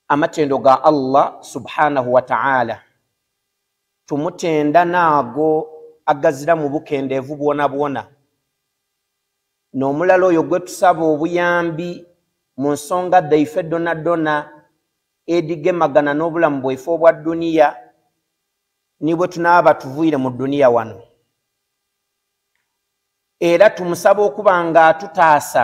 amatendo ga allah subhanahu wataala tumutenda naago agazira mu bukendeevu bwona bwona n'omulala oyo gwe tusaba obuyambi mu nsonga dhaife dona dona edigemagana n'obulamu bwaife obwa duniya ni bwe tunaaba tuvuire mu duniya wano era tumusaba okuba nga atutaasa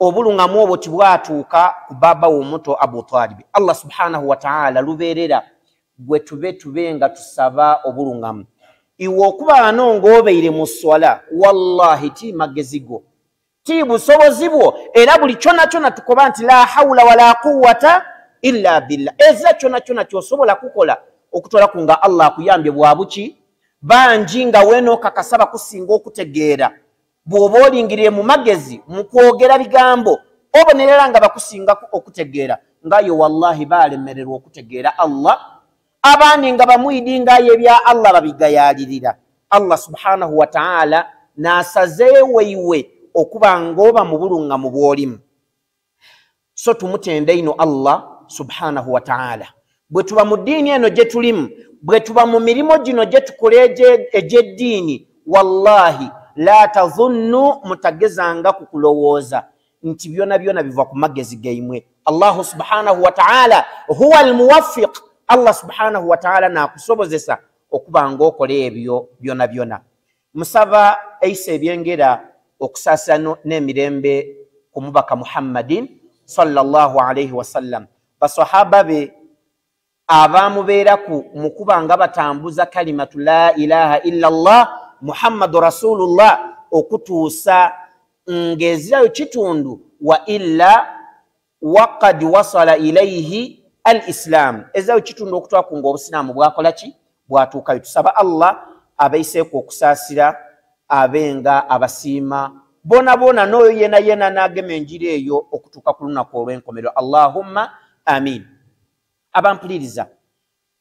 obulungamu obwo tibwatuuka ku baaba womuto abu talibi allah subhanahu wataala lubeerera gwe tube tube nga tusaba obulungamu iwe okubaano ng'obeire mu swala wallahi ti magezi go ti busobozi bwo era buli kyona kyona tukoba nti la haula wala quwata illa billah ezira kyona kyona kyosobola kukola okutwalaku nga allah akuyambye bwabuki bangi nga wenookakasaba kusinga okutegeera bw'oba olingirire mu magezi mu kwogera bigambo obonerera nga bakusingaku okutegeera ngayo wallahi baalemererwa okutegeera allah abaani nga bamwidi ngayo ebya allah babigayaalirira allah subhanahu wataala n'asazeewo iwe okuba ng'oba mu buluŋŋamu bw'olimu so tumutenda ino allah subhanahu wataala bwe tuba mu ddiini eno gye tulimu bwe tuba mu mirimu gino gye tukola egy'eddiini wallahi la tazunnu mutagezanga ku kulowooza nti byona byona biva ku magezi gaimwe allahu subhanahu wataala huwa almuwafiq allah subhanahu wataala nakusobozesa okuba ngaokola ebyo byona byona musaba eisa ebyengera okusaasira n'emirembe ku mubaka muhammadin salllah alaihi wasallam basahaba be abaamubeeraku mu kuba nga batambuza kalimatu la ilaha illa llah muhammadu rasulullah okutuusa ng'ezirayo kitundu wa illa wakad wasala ilaihi al isilaamu ezawo kitundu okutwaku nga obusiraamu bwakola ki bwatuukayo tusaba allah abaiseeku okusaasira abe nga abasiima bona bona n'oyo yena yena n'agema enjiri eyo okutuuka ku lunaku olw'enkomerero allahumma amin abampuliriza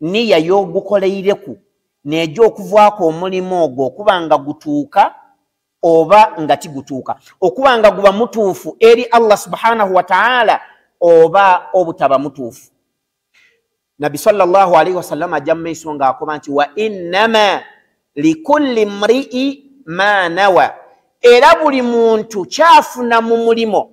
niya y'ogukoleireku neja okuvaako omulimu ogwo okuba nga gutuuka oba nga tigutuuka okuba nga guba mutuufu eri allah subhanahu wataala oba obutaba mutuufu nabbi salllah alaihi wasallama ajja mu maiso ngaakoba nti wa innama likulli mrii ma nawa era buli muntu kyafuna mu mulimo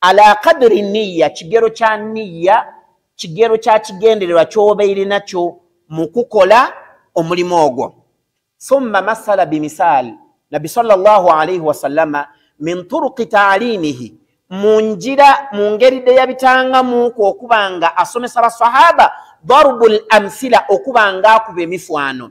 ala kadiri niya kigero kya niya kigero kya kigendererwa kyoba irinakyo mu kukola omulimu ogwo thumma masala bimisaali nabbi salllah alaihi wasallama min turuki taalimihi mu njira mu ngeri de yabitangamuku okuba nga asomesa basahaba darubu l amsila okuba nga akuba emifaano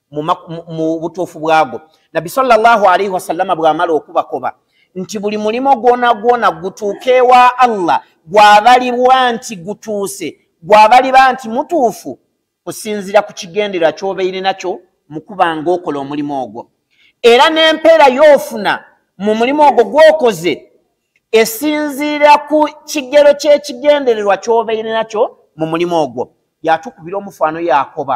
mu butuufu bwago nabbi salllahu alaihi wasallama bw'amala okubakoba nti buli mulimo gwona gwona gutuuka ewa allah gwabalibwa nti gutuuse gwabaliba nti mutuufu kusinzira ku kigendera kyobeire nakyo mukuba nga okola omulimu ogwo era n'empeera y'ofuna mu mulimu ogwo gwokoze esinziira ku kigero ky'ekigendererwa kyobeire nakyo mu mulimu ogwo yatukubira omufaano yakoba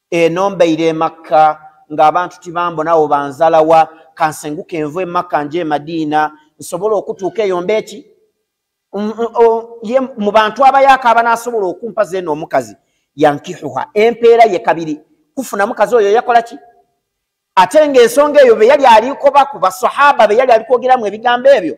eno mbeire emakka ng'abantu tibambonawo banzalawa kansenguka envu emakka nje emadiina nsobola okutuuka eyo mbeeki ye mu bantu abayaaka abanaasobola okumpa zeeno omukazi yankihuha empeera ye kabiri kufuna mukazi oyo yakola ki ate ng'ensonga eyo be yali aliko baku basahaba be yali alikwogeramu ebigambo ebyo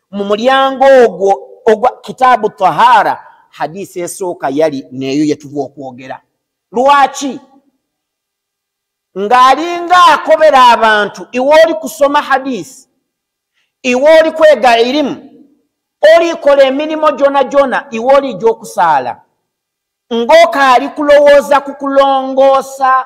mu mulyango ogwo ogwa kitaabu tahara hadisi esooka yali neeyo yetuva okwogera lwaki ng'alinga akobera abantu iwe oli kusoma hadisi iwe oli kwega irimu olikola emirimu gyona gyona iwe oli gyokusaala ng'okaali kulowooza ku kulongoosa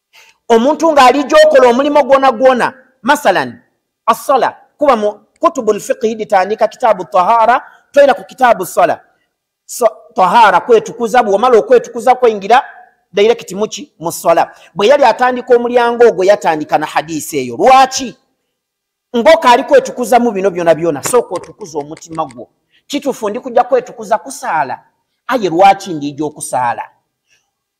omuntu ng'ali gyokola omulimu gwona gwona masalan assala kuba mu kutubu lfiqihi ditandika kitaabu tahara toyina ku kitaabu sala so, tahara kwetukuza bwomala okwetukuza kweingira dairekiti muki mu sala bwe yali atandika omulyango ogwo yatandika na hadisi eyo lwaki ngoka ali kwetukuzamu bino byona byona sooka otukuza omutima gwo kitufu ndi kujja kwetukuza kusaala aye lwaki ndiija okusaala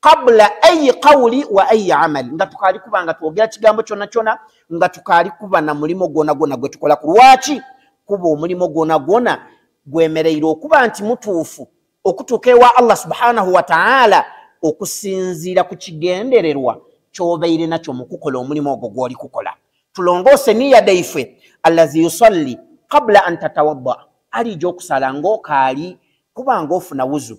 kabula ayi kawuli wa ayi amali nga tukaali kuba nga twogera kigambo kyona kyona nga tukaali kuba na mulimu gwona gwona gwe tukola ku lwaki kuba omulimu gwona gwona gwemereire okuba nti mutuufu okutuuka ewa allah subhanahu wataala okusinziira ku kigendererwa kyobeire nakyo mukukola omulimu ogwo gwoli kukola tulongoose niya daife allazi yusalli kabula an tatawadda aliija okusala ngaokaali kuba ngaofuna wuzu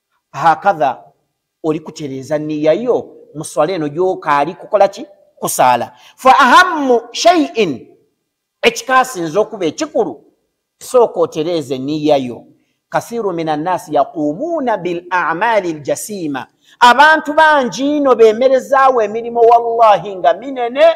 hakadha oli kutereeza niya yo mu swala eno gyoka ali kukola ki kusaala fa ahamu shaiin ekikasinza okuba ekikulu sooka otereeze niya yo kathiru min annaasi yaquumuuna bil amaali ljasiima abantu bangi ino bemerezaawo emirimu wallahi nga minene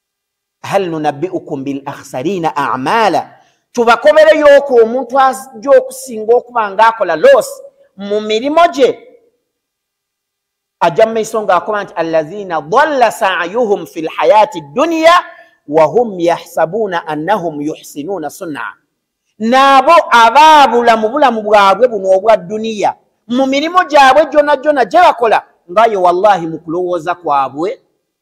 hal nunabiukum bil akhsarina amala tubakobereyooko omuntu ajja okusinga okuba ngaakola los mu mirimu gye ajja mu maiso ngaakoba nti allazina dalla sayuhum fi lhayati dduniya wahum yahsabuuna annahum yuhsinuuna sunna naabo abaabula mu bulamu bwabwe buno obwa dduniya mu mirimu gyabwe gyona gyona gye bakola ngaye wallahi mu kulowooza kwabwe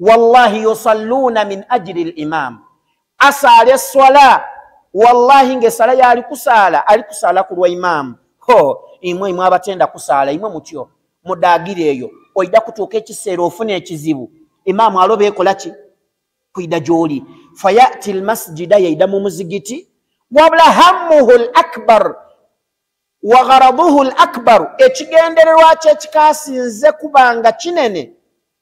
wallahi yusalluuna min ajiri l imaamu asaala esswala wallahi ngaesala yaali kusaala ali kusaala ku lwa imaamu ho imwe imwe abatenda kusaala imwe mutyo mudagira eyo oida kutuuka ekiseera ofuna ekizibu imaamu aloba ekola ki kuida gyoli fayati lmasjida yaida mu muzigiti wabula hammuhu l akbar wa gharaduhu l akbaru ekigendererwa kyo ekikasinze kubanga kinene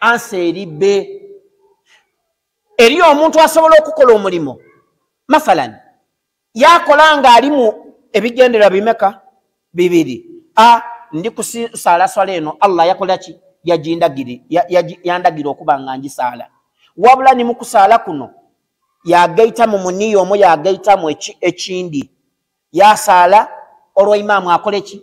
ansa eri be eri omuntu asobola okukola omulimu masalan yakola nga alimu ebigendera bimeka bibiri a ndi kusaala swala eno allah yakola ki yandagira okuba nga ngisaala wabula ni mukusaala kuno yagaita mu muniya omu yagaitamu ekindi yasaala olwa imaamu akoleki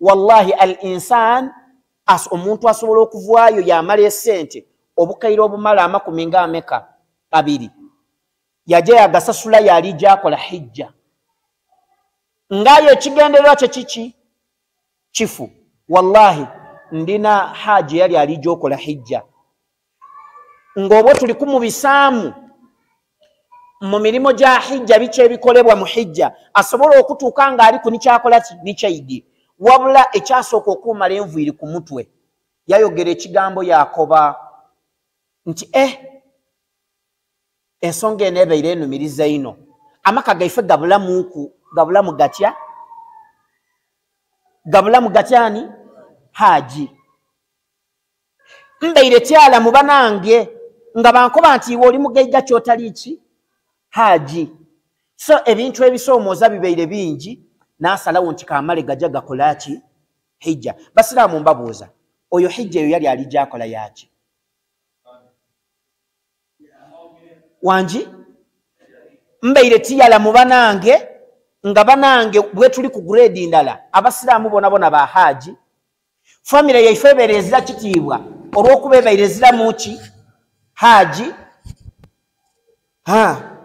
wallahi al insan as omuntu asobola okuvwayo yamala esente obukaire obumala amakumi nga ameka abiri yaja yagasasula yali gyakola hijja ngayo ekigendererwa kye kiki kifu wallahi ndina haji yali ali gyokola hijja ng'obwo tuli kumubisaamu mu mirimu gya hijja biki ebikolebwa mu hijja asobola okutuuka ng'ali ku nikyakola ki nikyaidi wabula ekyasooka okuumala enviiri ku mutwe yayogera ekigambo yakoba nti e eh, ensonga eno ebeire enumiriza ino amaka gaife gabulamuku gabulamu gatya gabulamu gatyani haaji mbeire kyala mu banange nga bankoba nti iwe oli mugeiga kyotali ki haji so ebintu ebisoomooza bibeire bingi nasalawo nti kamale gaja gakola ki hijja basiraamu mbabuuza oyo hijja eyo yali ali gyakola yaki wangi mbeire tiyala mu banange nga banange bwetuli ku grade ndala abasiraamu bonabona ba haji famire yaife ebeera ezira kitiibwa olwokuba ebaire eziramu ki haaji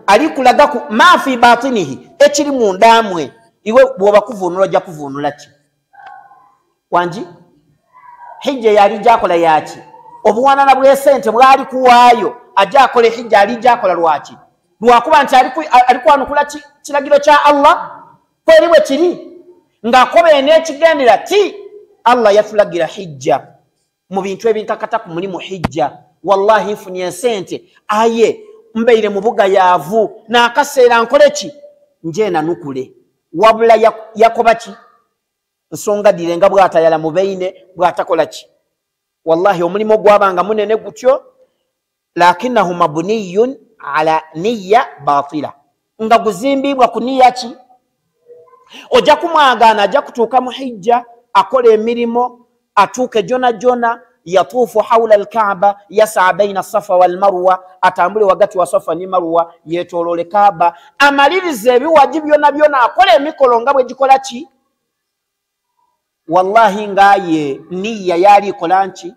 ali kulagaku maafi batinihi ekiri mundamwe iwe bwoba kuvunula ojja kuvunula ki wangi hijja yali jakola yaki obuwanana bwesente bwali kuwaayo ajja akola ehijja ali jakola lwaki lwakuba nti ali kwanukula kiragiro kya allah kweri bwe kiri ng'akoba en'ekigendera ti allah yatulagira hijja mu bintu ebinkakata ku mulimu hijja wallahi nfunye ensente aye mbeire mu bugayaavu n'akaseera nkole ki njeenanukule wabula yakoba ki nsonga dire nga bwatayala mu beine bwatakola ki wallahi omulimu gwabanga munene gutyo lakinahu mabuniyun ala niya batila nga guzimbibwa ku niya ki ojja kumwagaana ajja kutuuka mu hijja akola emirimu atuuke jona jona yatuufu haula alkaaba yasaa baina safa walmarwa atambule wagati wa safa ne marwa yetoloole kaaba amaliriza ebiwaji byona byona akola emikolo nga bwegikola ki wallahi ngaye niya yaali ikola nki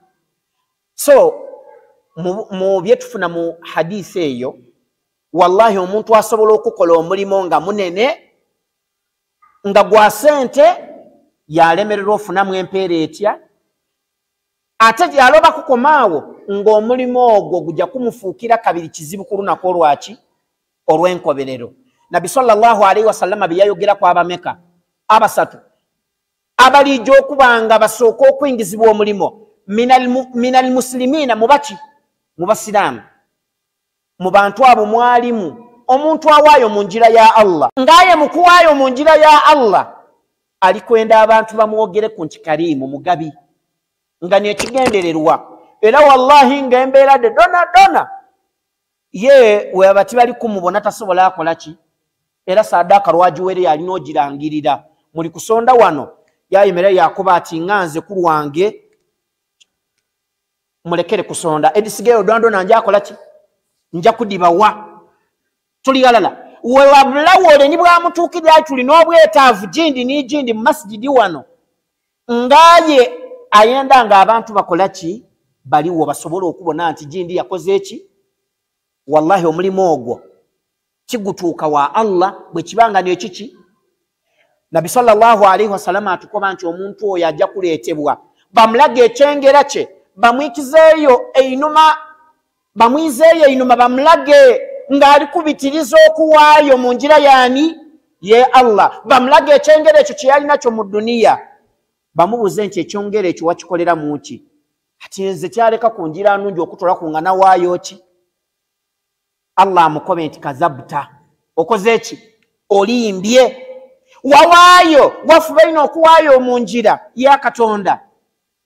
so mu byetufuna mu hadisi eyo wallahi omuntu asobola okukola omulimu nga munene nga gwa sente yalemererwa ofunamu empeera etya ate gyaloba kukomaawo ng'omulimu ogwo gujja kumufuukira kabiri kizibu ku lunaku olwaki olw'enkoberero nabbi salllahu alaihi wasallama bye yayogeraku abameka abasatu abalijja okuba nga basooka okuingizibwa omulimu min almuslimina mubaki mu basiraamu mu bantu abo mwalimu omuntu awaayo mu njira ya allah ngaaye mu kuwaayo mu njira ya allah ali kwenda abantu bamwogere ku nti kariimu mugabi nga nekigendererwa era wallahi nga embeera de dona dona ye weba tibali kumubona tasobola akola ki era sadaaka lwagiwere yalina ogirangirira muli kusonda wano yayimera yakuba ati nga nze ku lwange mulekere kusonda edisigayo odwandona nja akola ki nja kudibawa tuli alala wewabulawole ni bwamutuukirira tulina obwetaavu gindi nigindi mu masigidi wano ngaye ayenda nga abantu bakola ki baliwo basobole okubona nti jindi yakoze eki wallahi omulimu ogwo kigutuuka wa allah bwekibanga nekiki nabi salllahu alaihi wasalama atukoba nti omuntu oyo ajja kuleetebwa bamulaga ekyengera kye bamwikizeeyo einuma bamwizeeyo einuma bamulage ng'ali kubitiriza okuwaayo mu njira yaani ye allah bamulage ekyengero ekyo kye yali nakyo mu duniya bamubuuze nti ekyongero ekyo wakikolera mu ki ati nze kyaleka ku njira nungi okutula ku nga nawaayo ki allah amukobe nti kazabta okoze ki olimbye wawaayo wafubaina okuwaayo mu njira ya katonda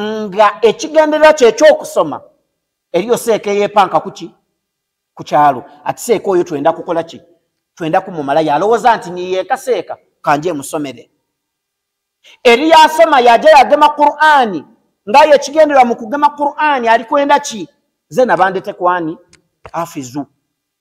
nga ekigendererwa kyekyokusoma eriyo seeka eyepanka kuki ku kyalo ati seeka oyo twenda kukola ki twenda kumumala yalowooza nti niyeeka seeka kanje emusomere eri yasoma yaja yagema qurani ngayo ekigendererwa mu kugema qurani ali kwenda ki ze nabandete kwani afizu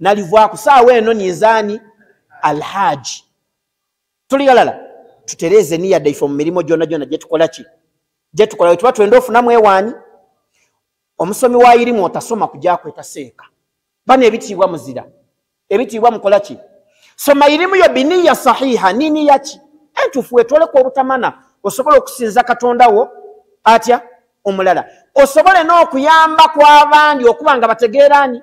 nalivwaku saawa eno ninzaani alhaaji tuli galala tutereeze niya daife mu mirimu gyona gyona gyetukola ki gyetukola wetuba twenda ofunamu ewaani omusomi wa irimu otasoma kujakweta seeka bano ebitiibwa muzira ebitiibwa mukola ki soma irimu yo biniya sahiha nini yaki entufu wetoleka obutamana osobola okusinza katonda wo atya omulala osobole n'okuyamba kw'abandi okuba nga bategeeraani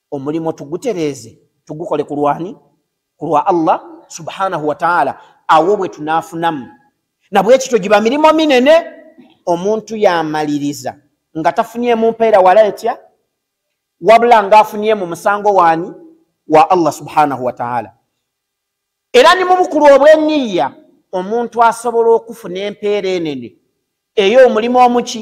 omulimu tugutereeze tugukole ku lwani ku lwa allah subhanahu wataala awo bwe tunaafunamu nabwekityo giba mirimu minene omuntu yamaliriza nga tafunyemu mpeera wala etya wabula ngaafunye mu musango waani wa allah subhanahu wataala era ni mubukulu obweniya omuntu asobola okufuna empeera enene eyo omulimu omuki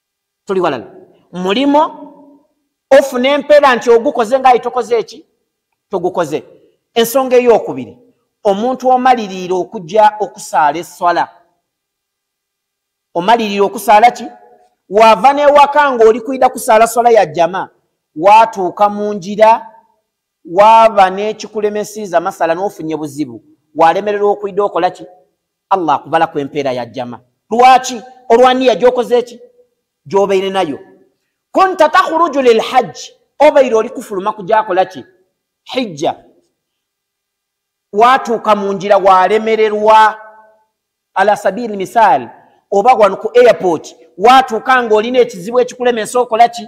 tuli walala mulimo ofuna empeera nti ogukoze ngaayi tokoze eki togukoze ensonga eyokubiri omuntu omaliriira okujja okusaala eswala omaliriira okusaala ki waava newaka ngaoli kwida kusaala swala ya jama watuuka mu njira waaba n'ekikulemesiiza masala n'ofunye buzibu walemererwa okuida okola ki allah akubala ku empeera ya jama lwaki olwaniya gyokoze eki gyobeire nayo kunta takhuruju lilhajji obeire oli kufuluma kujakola ki hijja watuuka mu ngira walemererwa ala sabiri misaali oba wano ku airport watuuka nga olina ekizibu ekikulemesa okola ki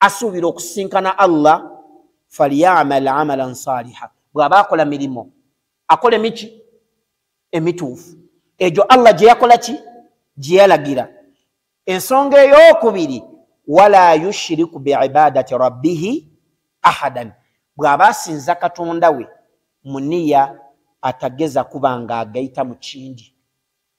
asuubira okusisinkana allah falyamal amalan saliha bw'aba akola mirimu akola emiki emituufu egyo allah gye yakola ki gye yalagira ensonga ey'okubiri wala yushiriku biibadati rabbihi ahadan bw'aba asinza katonda we muniya atageza kuba nga agayita mu kindi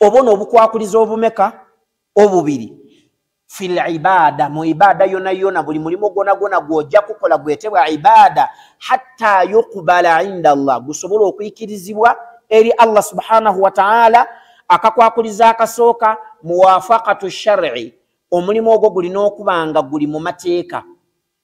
oba ono obukwakuliza obumeka obubiri fil ibada mu ibada yona yona buli mulimu gwona gwona gwojja kukola gwetebwa ibada hatta yuqbala inda allah gusobola okuikirizibwa eri allah subhanahu wataala akakwakuliza akasooka muwafakatu shari omulimu ogwo gulina okuba nga guli mu mateeka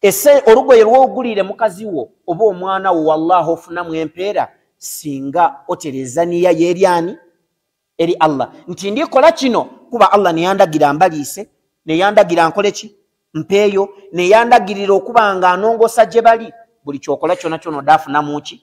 ese olugoye lwogulire mukazi wo oba omwana wo wallahi ofunamu empeera singa otereeza niya yeryani eri allah nti ndikola kino kuba allah neyandagira mbaliise neyandagira nkole ki mpeeyo neyandagirira okuba nga anongosa gye bali buli kyokola kyona kyona odaafunamuki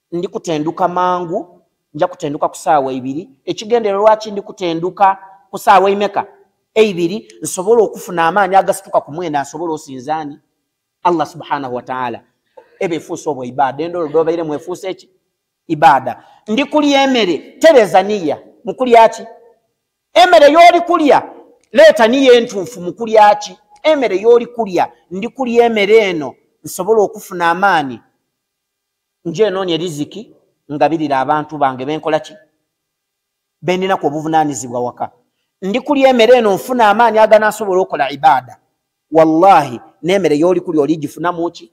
ndi kutenduka mangu nja kutenduka ku saawa ebiri ekigendero lwaki ndi kutenduka ku saawa emeka eibiri nsobola okufuna amaanyi agasituka ku mwenda nsobola osinzaani allah subhanahu wataala eba efuusa obwa ibaada endolo dobaire mu efuusa eki ibaada ndi kulya emere tereza niya mu kulya ki emere yooli kulya leeta niya entuufu mu kulya ki emere yooli kulya ndi kulya emere eno nsobola okufuna amaanyi nje enoonya eriziki ngabirira abantu bange benkola ki bendinaku obuvunaanyizibwa waka ndi kulya emere eno nfuna amaanyi aganaasobola okola ibaada wallahi n'emere yooli kulya oli gifunamu ki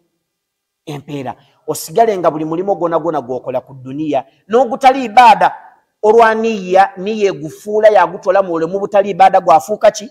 empeera osigale nga buli mulimu gwona gwona gwokola ku duniya n'ogutali ibaada olwa niya niya egufuula yagutola muule mu butali ibaada gwafuuka ki